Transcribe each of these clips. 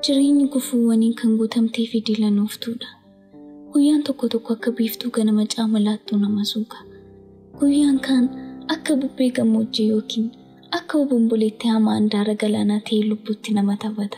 Jireenyi gufuuwwaniin kan guutamtee fi dilanooftuudha. Guyyaan tokko tokko akka biiftuu ganama caamalaattuu nama suuqa. Guyyaan kaan akka bubbee gammoojjii yookiin akka obomboleetti hamaa handaara galaanaa ta'ee lubbuutti nama taphata.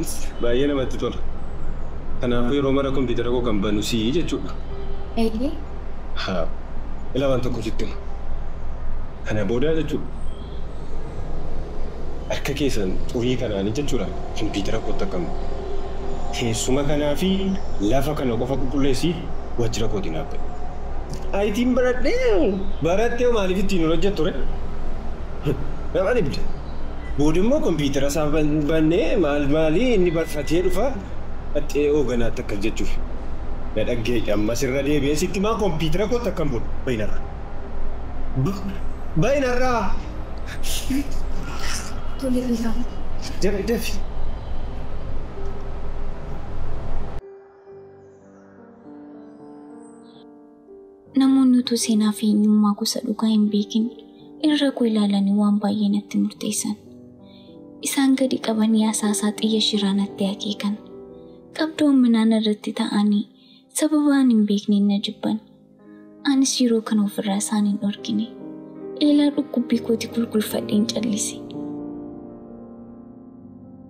Its baay'ee namatti tola. Kanaafuu yeroo mara kompiitara koo kan banu si jechuudha. Eeyyee. Haa. Ilaa waan tokko sitti hima. Kana boodaa jechuudha. Harka kee san xurii kanaani jechuudhaan kompiitara kootti akka hin buune. Teessuma kanaa fi lafa kana qofa qulqulleessi waajjira kootii naaf ba'i. ITn baradhee moo? Barattee hoo maaliif ittiin hin hojjettu ree? Nama dhibda. Booda immoo kompiitara isaa bannee maal maalii inni barfatee dhufa qaxxee hooganaatti akkas jechuuf na dhaggeeyyi ammas irra deebi'ee sitti maa kompiitara kootti akkan bulu bahi narraa. Bahi narraa. Tole Fiisaa. Dafi dafi. Namoonni utuu seenaa fi eenyummaa gosa dhugaa hin beekin irra koo ilaalanii waan baay'ee natti murteessan. Isaan gadi qabanii asaasaa xiyya shiraa natti akeekan. Qabdoon minaan irratti ta'anii sababa ani hin beekneen na jibban. Anis yeroo kana ofirraa isaan hin dhorkine. Eelaa dhukkubbii kooti gulgulfadheen callise.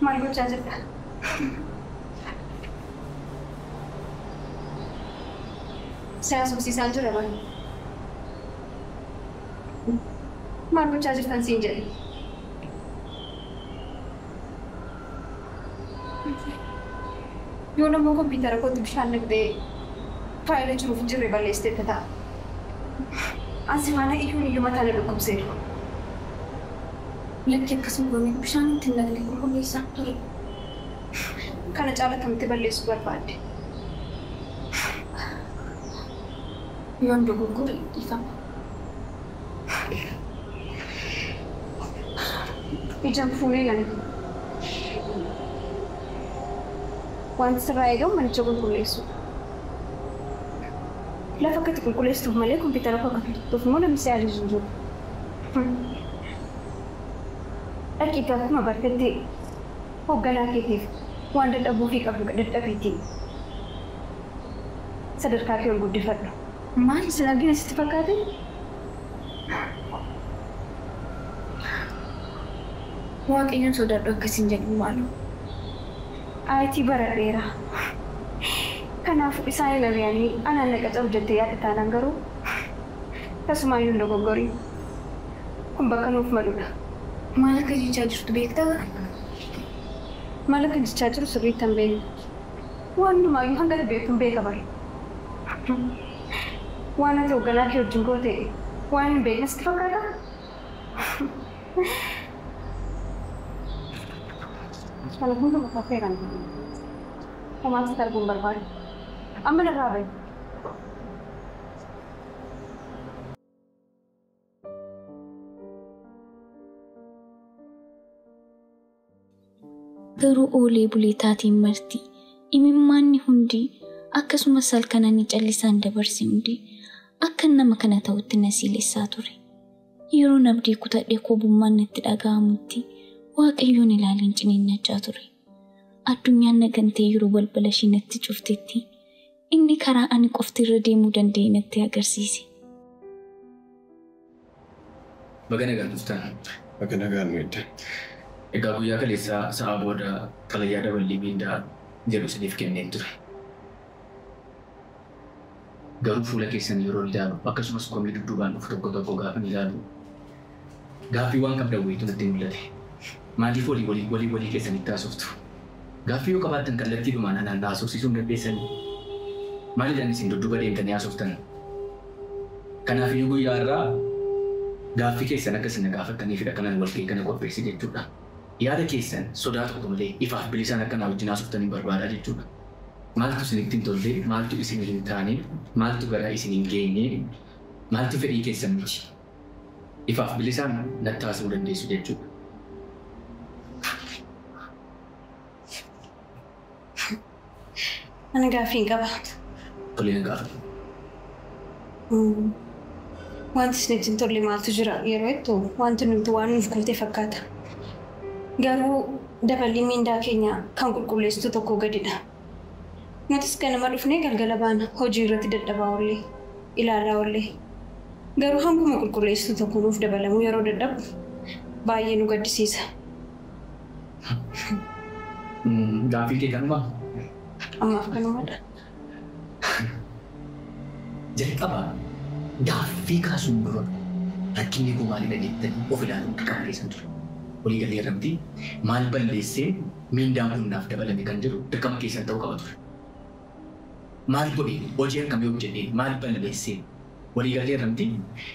Maal gochaa jirta? Si haasofsiisaan jira bar. Maal gochaa jirtan siin jedhe? Yoon ammoo kompiitara kootti bishaan naqxee faayila jiruuf hin jirre balleessiteetta ta'a. An sifaana iyyuun iyyuu mataa na dhukkubseera. Lakki akkas hin goone bishaan itti hin naqne qulqulleessaa ture. Kana caala akkamitti balleessuu barbaadde? Yoon dogoggore dhiifama. Ija hin fuune ilali. Wanti sirraa eegamu manicha qulqulleessuudha. Lafa akka itti qulqulleessituuf malee kompiitara koo akka tuqxuuf immoo namni si ajaje hin jiru. Furmii. Dhaqiitii akkuma bartetti hoogganaa keetiif waan dadhabuufii qabdu dadhabiitii sadarkaa kee ol guddifadhu. Maaliif sin argine sitti fakkaate? Waaqayyoon sodaadhu akka siin jedhu maaloo. IT baradheera. Kanaafuu isaan hin ari'anii anaan na qacaru jettee yaadda taanaan garuu. Tasumaayyuu hin dogoggorin. Kun bakka nuuf maludha. Maal akka jechaa jirtu beektaa? Maal akkan jechaa jiru sirriitti hin beeku. Waan hundumaayyuu hanga ati beektu hin beeka bar. Waan ati hoogganaa kee wajjin goote waanin hin beekne sitti fakkaataa? Kana hunduma fafeeran. Homaa sitti arguu hin barbaadu. Amma narraa bahi. Garuu oolee bulee taateen marti, imimmaanni hundi, akkasumas halkan ani callisaan dabarse hundi, akkan nama kana ta'utti na siilessaa ture. Yeroon abdii kutadhe koobummaan natti dhaga'amutti, Waaqayyoon ilaaleen ciniinnachaa ture. Addunyaan na gantee yeroo balbala ishii natti cuftetti, Inni karaa ani qofti irra deemuu danda'e natti agarsiise. Baga nagaan dhuftan. Baga nagaan nu eddan. Egaa guyyaa kaleessaa sa'aa booda xalayaa daballii miindaa jedhu isiniif kenneen ture. Garuu fuula keessan yeroon ilaalu akkasumas komii dudduubaan dhufu tokko tokko gaafan ilaalu, Gaaffii waan qabdan wayiitu natti mul'ate. Maaliif walii walii walii walii keessanitti haasoftu? Gaaffii yoo qabaattan kallattiidhumaan anaan na haasofsiisuu hin dandeessanii? Maalidhan isin dudduuba deemtanii haasoftan? Kanaafiyyuu guyyaa har'aa gaaffii keessan akka isin na gaafattaniifidha kanan walga'ii kana qopheesse jechuudha. Yaada keessan sodaa tokko malee ifaaf bilisaan akka naa wajjin haasoftaniin barbaada jechuudha. Maaltu isinitti hin tolle? Maaltu isinii hin taane? Maaltu garaa isin hin geenye? Maaltu fedhii keessan miti? ifaaf bilisaan natti haasa'uu dandeessu jechuudha. Ani gaaffiin qaba. Tole na gaafadhu. Wanti isinitti hin tolle maaltu jira yeroo jettu wanti nuti waan nuuf goote fakkaata. Garuu daballiin mindaa keenya kan qulqulleessituu tokkoo gadidha. Nutis ganama dhufnee galgala baana. Hojii irratti dadhabaa oolle. Ilaalaa oolle. Garuu hanguma qulqulleessituu tokko nuuf dabalamuu yeroo dadhabnu baay'ee nu gaddisiisa. Gaaffiin kee kanumaa? Ammaaf kanuma dha. Jalqaba gaaffii kaasuun dura rakkinni koo maali dha jettanii of ilaaluun dirqama keessan ture. Walii galleerra mitii? Maal balleesseen? Miindaan kun naaf dabalame kan jedhu dirqama keessan ta'uu qaba ture. Maal godheen? Hojii akkamii hojjedheen? Maal balleesseen? Waliigalteerra miti.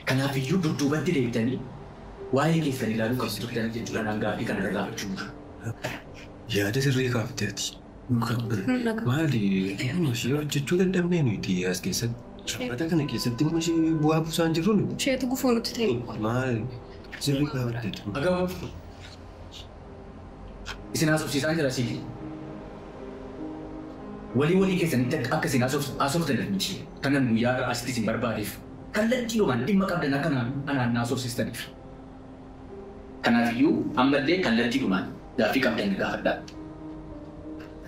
Kanaafiyyuu dudduubatti deebitanii waa'ee keessan ilaaluu qabdu turtanii jechuudha naan gaaffii kana na gaafachuun dura. Yaada sirrii kaafte ati. Maali dhimma ishee hojjechuu dadhabnee nuti as keessatti? Dhaabbata kana keessatti dhimma ishee bu'aa buusaa hin jirru nuti. Isheetu gufuu nutti ta'e. Maali sirrii kaafte ati. Agawwaa. Isin haasofsiisaan jira siif. Walii walii keessanitti akka akka isin haasoftaniif miti kanan guyyaa har'aa asitti isin barbaadeef kallattiidhumaan dhimma qabdan akka anaan haasofsiistaniif. Kanaaf iyyuu amma illee kallattiidhumaan gaaffii qabdan na gaafadhaa.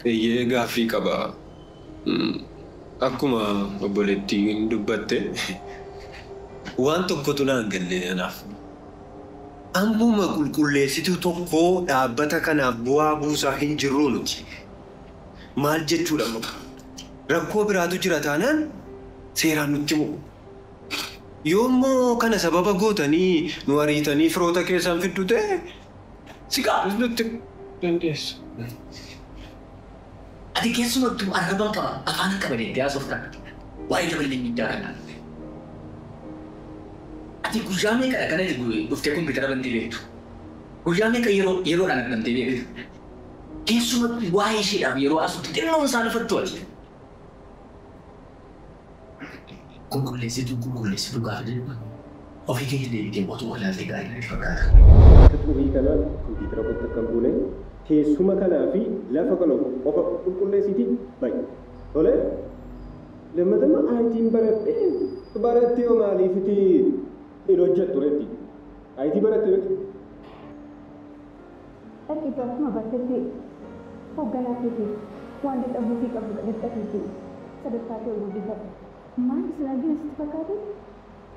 Eeyyee gaaffii qaba. Akkuma obboleettiin dubbatte waan tokkotu naan galle anaaf. Ammuma qulqulleessituu tokko dhaabbata kanaaf bu'aa buusaa hin jirruu nuti. Maal jechuudha kun? Rakkoo biraatu jira taanaan seeraan nutti himuu. Yoommoo kana sababa gootanii nu ariitanii firoota keessan fiddu ta'e, si gaafachuu dandeessu. Ati keessumattuu arraban qaba, afaanan qaba jettee haasofta. Waa'ee gabatee miindaa kanaa dhufe. Ati guyyaa meeqadha kan ati dhuftee kompiitara bantee beektu? Guyyaa meeqa yeroo yeroodhaan argamtee beekta? Keessumattuu waa'ee isheedhaaf yeroo haasoftu xinnoon saalfattu ati. Qulqulleessituu qulqulleessi dhugaa kan jedhu kun ofii keetii deebitee otuu walaaltee gaarii natti fakkaata. Akka xurii kana kompiitara kootti akka hin buune teessuma kanaa fi lafa kana qofa qulqulleessiitii ba'i. Tole? Lammata immoo ITn baradhe baratte hoo maaliif itti hin hojjettu ree itti? IT baratte miti? Dhaqiitu akkuma bartetti hoogganaa keetiif waan dadhabuufii qabdu qadaddhafiitii sadarkaa kee ol guddifadhu. Maal isin argina sitti fakkaate?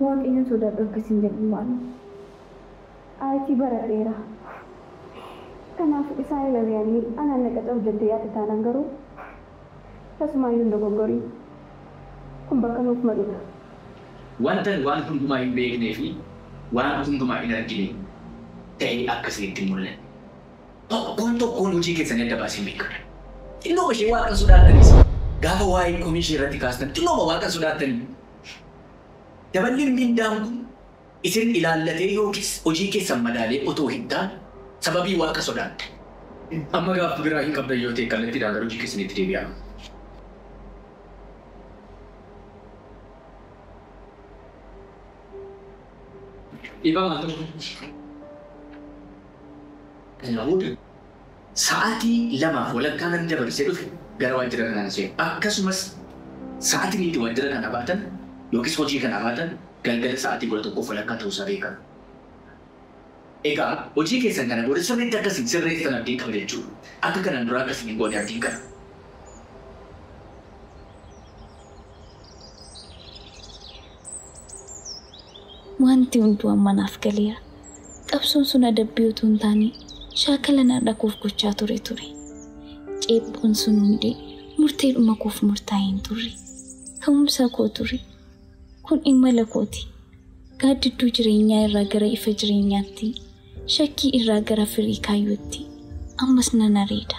Waaqayyoon sodaadhu akka isin jedhu maaloo? IT baradheera. Kanaaf isaan hin ari'anii anaan na qacaru jettee yaadda taanaan garuu Tasumaayyuu hin dogoggoriin. Kun bakka nuuf maludha. Wantan waan hundumaa hin beeknee fi waan hundumaa hin argine ta'ee akka isinitti hin mul'anne. Tokkoon tokkoon hojii keessanii adda baaseen beeka. Xinnooma ishee Waaqa hin sodaattanis, gaafa waa'ee komii ishee irratti kaastan xinnooma Waaqa hin sodaattanii? Daballiin mindaan kun. isin ilaallatee yookiis hojii keessan madaalee otoo hin taane, sababii Waaqa sodaatte. Amma gaaffi biraa hin qabdan yoo ta'e kallattiidhaan gara hojii keessaniitti deebi'aa. Dhiifama al tokko. Kana booda. Sa'aatii lamaaf walakkaa nan dabarsee dhufe gara waajjira kanaan seenu. Akkasumas sa'aatiin itti waajjira kana baatan yookiis hojii kana baatan galgala sa'aatii kudha tokkoof walakkaa ta'uu isaa beekaa. Egaa hojii keessan kana booda sirriitti akka isin sirreessitan abdiin qaba jechuu dha. Akka kanaan duraa akka isin hin goone abdiin qaba. Wanti hunduu amma naaf galeera. Qabsoon sun adabbii utuu hin taane shaakala na dhakuuf gochaa ture ture. Ceephoon sun hundi murteedhuma koof murtaa'e hin turre. Ka'umsa koo ture. Kun imala kooti. Gaaddidduu jireenyaa irraa gara ifa jireenyaatti, shakkii irraa gara firii kaayyootti ammas nan areeda.